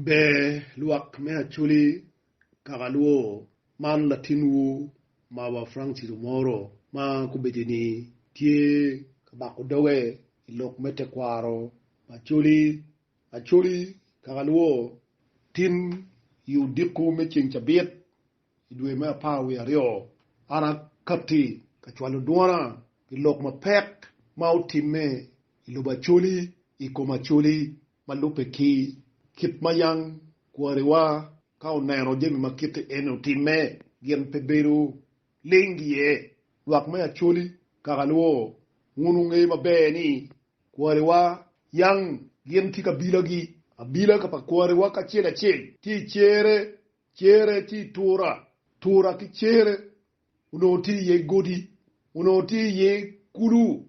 Ber lwak me Acholi kaka lwo, man latinwu ma wa Frank Cilo moro ma kubeddi ni tye ka bako doge i lok me tekwaro ma Acholi. Acholi kaka lwo tin i odiko me ceng cabit i dwe me apar wiye aryo, an akatti ka cwalo dwona pi lok mapek ma otimme i lobo Acholi i kom Acholi Ma lubbe ki kit ma yam kwariwa ka oneno jami ma kite eni otimme, gin pe bedo ling iye. Lwak me Acholi, kaka luwo, Wun wungeyo maber ni kwariwa yam gin tye ki abilagi. Abilaka pa kwariwa kacel acel tye i cere, cere tye i tura, tura ki cere onongo tye iye godi, onongo tye iye kulu,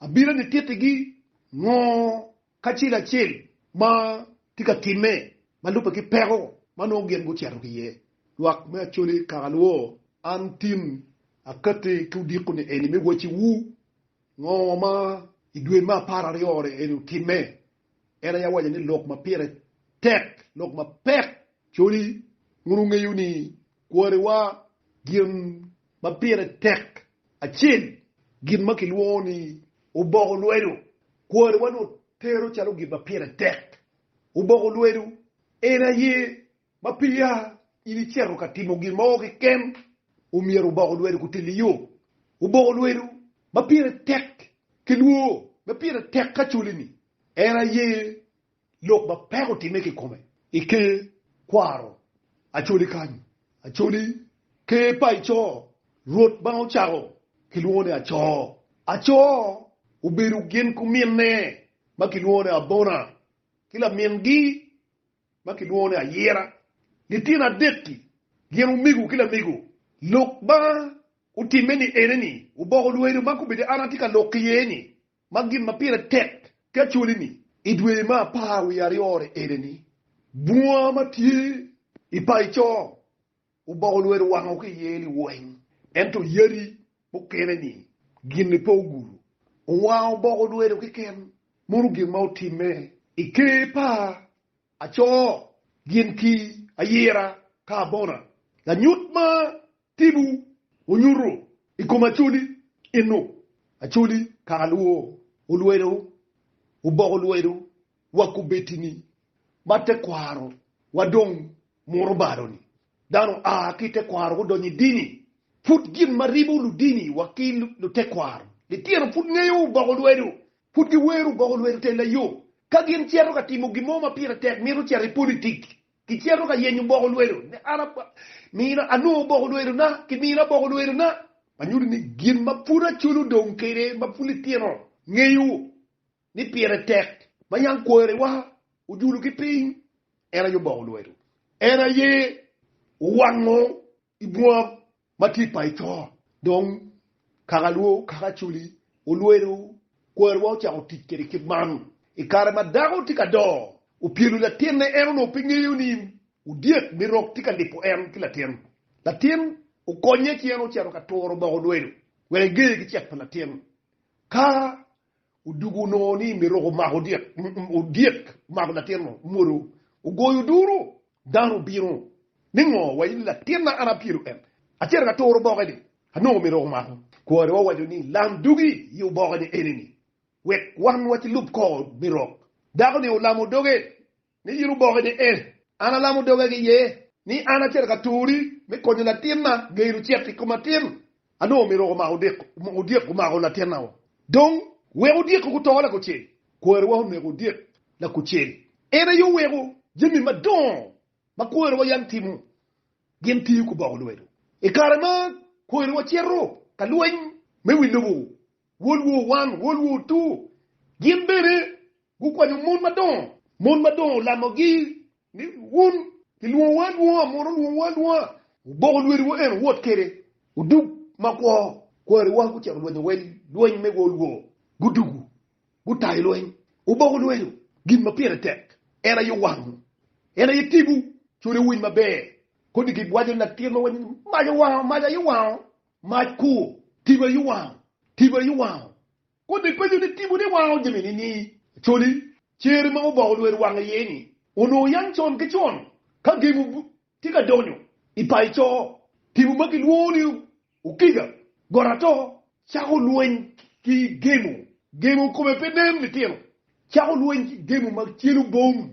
Abino nitittigi ngo kacel acel ma tye ka timme ma lubbe ki peko ma nongo gin gucito ki iye. Lwak me Acholi kaka luwo, An tin akatti ki odiko ni eni me wacciwu ngo ma idwe me apar aryo-ni eni otimme En aye awaco ni lok ma pire tek, lok ma pek. Coli, wun wungeyo ni kwariwa gin ma pire tek acel, gin ma kilwongo ni oboko lwedo. Kwariwa notero calo gin ma pire tek. Oboko lwedo en aye Ma peya in icito ka timo gin mo keken, omyero wuboko lwedo kutel i yo. Wuboko lwedo ma pire tek ki lwor ma pire tek ka coli-ni en aye lok ma peko otimme kikome. I ker kwaro Acholi kany, Acholi, ker pa Ico, Rwot ma ocako kilwongo ni Aco. Aco obedo gin kuminne ma kilwongo ni Abona ki lamingi ma kilwongo ni ayira. Litino adek-ki gin omego ki lamego. Lok ma otimme ni ene ni oboko lwedo ma kombeddi an atye ka lok iye ni ma gin ma pire tek ki acwali ni i dwe me apar wiye aryo-ri ene ni bunga ma tye i paco. Oboko lwedo wango ki iye liweng, ento yadi mukene-ni gin-ni pe ogudo. Owango oboko lwedo keken, mono gin ma otimme i ker pa aco gin ki ayira ka abona. Lanyut ma tipo onyuto i kom Acholi eno, Acholi kaka lwor olwedo oboko lwedo wa kubeddi ni ma tekwaro wa dong muro balo ni dano a ki tekwaro gudonyo i dini, pud gin ma ribo ludini wa ki lutekwaro litino pud ngeyo oboko lwedo, pud gi wero oboko lwedo te layo ka gin cito ka timo gin mo ma pire tek mito cito i politik ki cito ka yenyo oboko lwedo ne an mina anongo oboko lwedo na ki mina oboko lwedo na ma nyuto ni gin ma pud aculo dong kede ma pud litino ngeyo. ni pire tek ma yam kwariwa ojulogi piny, en aye oboko lwedo, en aye owango i bunga matit pa Ecor, dong kaka lwo okako acoli, olwedo kwariwa ocako tic kwede kit man. I kare ma dako tye ka do, opyelo latinne, en onongo pe ngeyo ni odyek me rok tye ka lipo en ki latin. Latin okonye ci en ocito ka turo oboko lwedo wek egeye ki cek pa latin. Ka Odwogo onongo ni myero omako odyek, omako latinno, omwodo, ogoyo duru. Dano obino ni, Ngo wa in latinna, an apyelo en. Acito ka turo oboke-ni, anongo myero omako. Kwarewa owaco ni, Lam dugi i oboke-ni eni-ni, wek wan wakilub kor mirok. Dako-ni olamo doge. ni in oboke ni en, an alamo doga ki iye ni an acito ka turi me konyo latinna geno cet i kom atin. Anongo myero omako odyek omako latinna-wu. Dong, wek odyek-ki guto lakucel, kwariwa oneko odyek lakucel. En aye oweko jami madongo ma kwariwa yam timo gin tiyo ki boko lwedo. I kare ma kwariwa cito ka lweny me wi lobo, wolwu owan, wolwu otur, gin bene Gukwanyo mon madongo. Mon madongo olamogi ni, Wun kilwongowu alwonga, mon olwongowu alwonga. Wuboko lwediwu en owot kwede odug ma kwo. Kwariwa gucito lwenyo wel lweny me wolwo, gudugu, gutayo lweny. Wuboko lwedo gin ma pire tek, en aye wangwu, en aye tibu. Code owiny maber, kodi gin waco latir ma waco ni, 'Mac owango, mac aye wango, mac kur, tibu aye wango, tibu aye wango. Kodi ipenyo ni tipo ni wango jami ni-ni coli cere ma oboko lwer wang iye ni onongo yam con ki con ka gengo tye ka donyo i payo co, tipo ma kilwongo ni okiga, got ato, cako lweny ki gemo, gemo kome pe nen litino, cako lweny ki gemo ma celo bom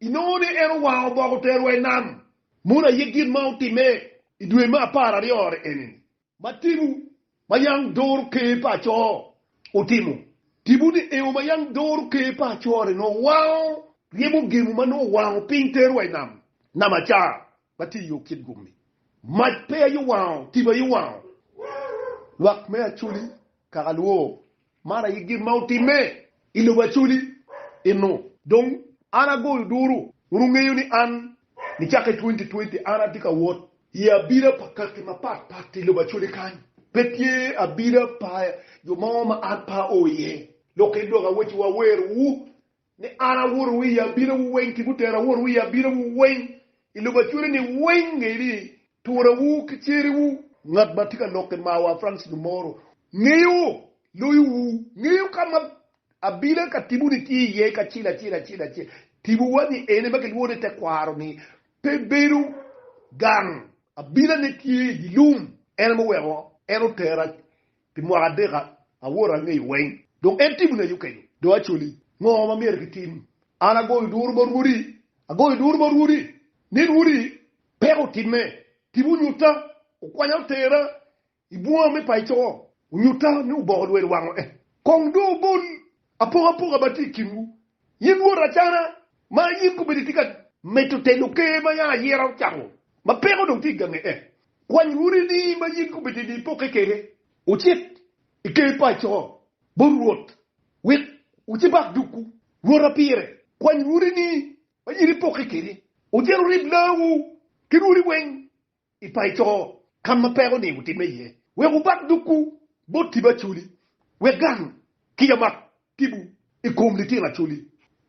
Inongo ni en owango obok oterowa i nam. Mono aye gin ma otimme i dwe me apar aryo eni. Ma tibu ma yam doro ker pa aco otimo? Tibu ni ewo ma yam doro ker pa aco-ri nongo wango ryemo gemu ma nongo owango piny terowa i nam, nam acar ma tye i yo kit gum-mi. Mac pe aye owango, tibu aye owango lwak me Acoli kaka lwor. Man aye gin ma otimme i lobo Acoli eno. Dong an agoyo duru, wun wungeyo ni an nicakke i twenty twenty an atye ka wot i abida pa kaki mapat pat i lobo Acoli kany. Pe tye abida pa jo mo ma an pe ao iye. Lokke dok awacciwu, awerowu ni an awuro wiya abinowu weng ki butera awuro wiya abinowu weng i lobo acwere-ni weng, ngeyo ni turawu ki ceriwu. Ngat ma tye ka lok i mawa Francis Dumoro ngeyo loyowu, ngeyo ka ma abila ka tibuni tye iye kacel acel acel acel. Tibuwa ni ene ma kilwongo ni tekwaro-ni pe bedo gang, abilane tye i dye lum, en aye muweko en otera Pi mwaka adek awoto angeyo weng. Dong en timo nayo kenyo. Dong acoli, ngo ma myero gitim? An agoyo duru ma rwodi, agoyo duru ma rwodi, ni rwodi, peko otimme, tibu onyutta, okwanya otera i bunga me paco, onyutta ni oboko lwelo wango eh. Kong dong obol Apokapoka ma tye i kinwu, in wot acana ma in kobedi itye ka mito telo ker ma yam ayera ocako, ma peko onongo tye i gange en. Kwany rwodini ma in kobedi ni ipokke kwede, wucit i ker pa co bot Rwot, wek wucibak dukwu. Rwota pire, kwany rwodini ma in ipokke kwede, wucit wurib laawu ki rwodi weng. i paco ka ma peko ni wutimme iye, wek wubak dukwu bot tipo Acholi, wek gang kica mak tipo i kom litino Acholi.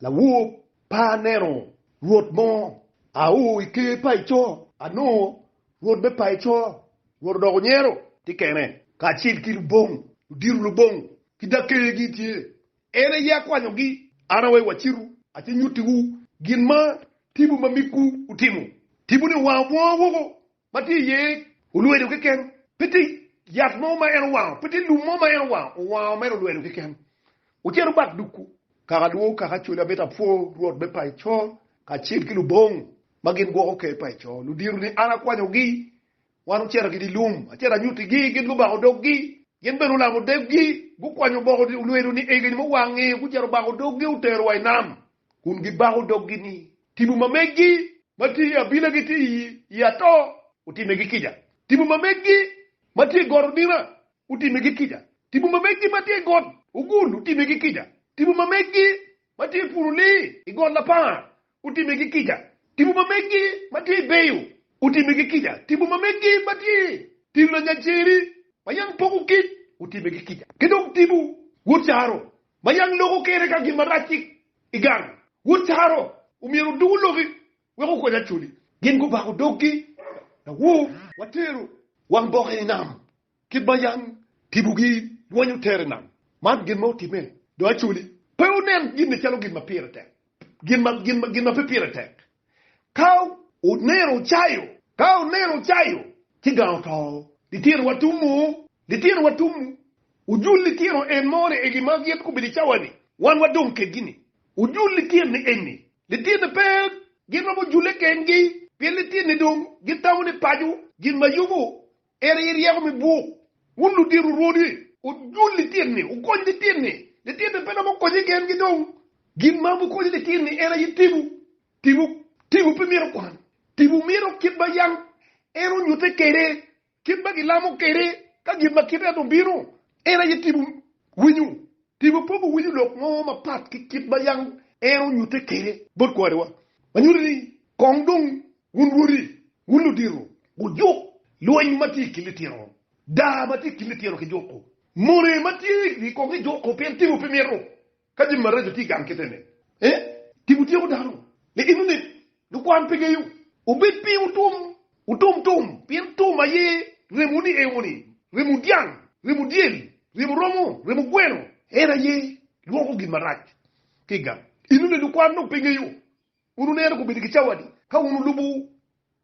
Lawor pa aneno rwot mo a o i ker paco, anongo rwot me paco, rwot odoko nyero tye kene, kacel ki lubong, ludito lubong ki dakegi tye En aye akwanyogi. An aweyo wacitu, ace nyutiwu gin ma tibu ma migwu otimo. Tibu-ni owango bunga woko ma tye iye olwedo keken, pe tye yat mo ma en owango, pe tye lum mo ma en owango, owango mere olwedo keken. Wucit wubak dukwu. Kaka adwogo kaka acwali amito apwo Rwot me paco kacel ki lubongo ma gin gwoko ker paco, ludiro-ni an akwanyogi, Wan ocito ki dye lum, acito anyuttigi, gin gubako doggi. Gin bene olamo deggi, gukwanyo oboko olwelo ni egeni muwangi, gucito obako doggi, otero wa i nam, kun gibako doggi ni, Tipo ma meggi ma tye i abila gitye i ato, otimegi kica. Tipo ma meggi ma tye i got Odina otimegi kica. Tipo ma meggi ma tye i got Ogul otimegi kica. Tipo ma meggi ma tye i Purulii i got Lapar otimigi kica, tipo ma megi ma tye beyo otimigi kica, tipo ma megi ma tye tino lanyaceri ma yam poko kic otimigi kica, ki dong tipo wod caro ma yam loko kere ka gin marac ki i gang. Wod caro omyero oduku loki wek okony acoli. Gin gubako doggi lawor, watero wang bokke i nam, Kit ma yam tibogi rwenyo tere i nam, man gin ma otimme, dong acoli pe wunen ginni calo gin ma pire tek, gin ma pe pire tek. Ka wuneno ocayo, ka wuneno ocayo ci gang oto, litinowa tumu, litinowa tumu, wujul litino en moni egi ma gin gubedo i cawa-ni, wan wadong kedgi-ni, wujul litini eni, litini pe gin romo jule kengi, pien litini dong gitamo ni paco gin ma yomo En aye ryeko me buk. Wun ludito rwodi, wujul litini, wukony litini. Litini pe romo konyi gengi dong. Gin ma wubikonyo litini en aye tipo. Tipo tipo pe mito kwan. Tipo mito kit ma yam en onyutte kwede, kit ma gilamo kwede ka gin ma kite en obino. En aye tipo. Winyo, tipo pe guwinyo lok mo mapat ki kit ma yam en onyutte kwede bot kwariwa, ma nyuto ni kong dong Wun woti, wun ludito, wujuk lweny ma tye i kin litino, daa ma tye i kin litino ki juko, mone ma tye i komgi juko, pien timwu pe mito ka jami maraco tye i gang kite-ni. Ee, timwu tyeko dano, ni in onip, ni kwan pe geyo. Obed piny wutum, wutum tum, pien tum aye remo ni eyo moni, remo dyang, remo dyel, remo romo, remo gweno, en aye lwoko gin marac ki i gang. In onip, ni kwan dong pe geyo. Wun wuneno komiti ki cawani ka wun wulubo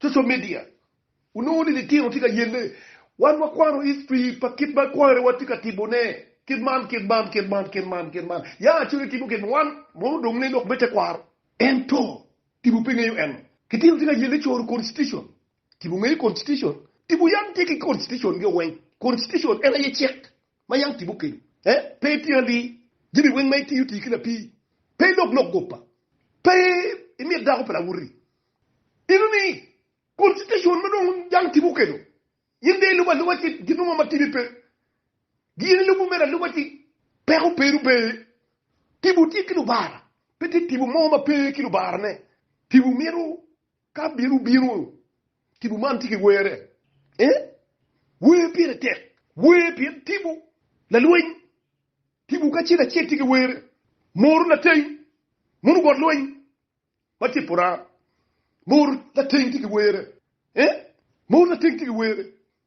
social media. Wunongo ni litino tye ka yelle. Wan wakwano history pa kit ma kware watye ka timone. Kit man, kit man, kit man, kit man, kit man. Ya coc itimo kit man. Wan mono odong ne lok me tekwaro. Ento tipo pe ngeyo eno. Litino tye ka yelle coro constitution. Tipo ngeyo constitution? Tipo yam tye ki constitution ge weng. Constitution en aye cik. Ma yam timo keni eh, pe itye ali, Jami weng ma itiyo tii ki lapii, Pe ilok lok gopa, Pe imit dako pa lawotti. Inu ni, Kun citacion ma dong jang timo keni, In de ilubo aluba ci gin mo ma tidi pe, Gin ilubo mere aluba ci peko pe rubbe. Tipo tye ki lubara, Pe tye tipo mo ma pe ki lubarane, Tipo mito Ka bino bino, tipo man tye ki were. Ee, wer pire tek. Wer pien tipo lalweny. Tipo kacel acel tye ki were. Moro lateng, mono bot lweny ma tye pora. Moro lateng tye ki were. Ee, moro lateng tye ki were.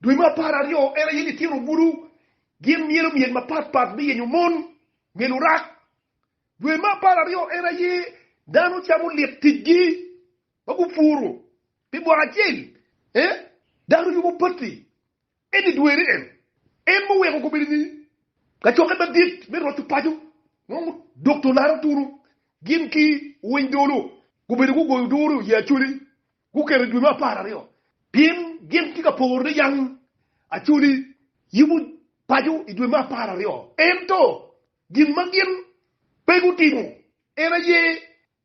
Dwe me apar aryo en aye litino bulu gin myelo myel mapat pat me yenyo mon, myel orak. Dwe me apar aryo en aye dano camo lik ticgi ma gupuro pi mwaka acel, ee, dano yubo pati, eni dwene en. En ma oweko gubedo ni kacokke madit me roco paco nongo dok jo laro tunu gin ki owiny dolo gubedo gugoyo duru i ye acholi. Guketo dwe me apar aryo pien gin tye ka poro ni yam Acoli yubo paco i dwe me apar aryo. Ento gin ma gin pe gutimo en aye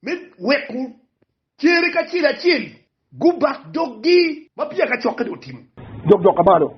me weko cere kacel acel gubak doggi ma peya kacokke dong otimo. Jok dok ka malo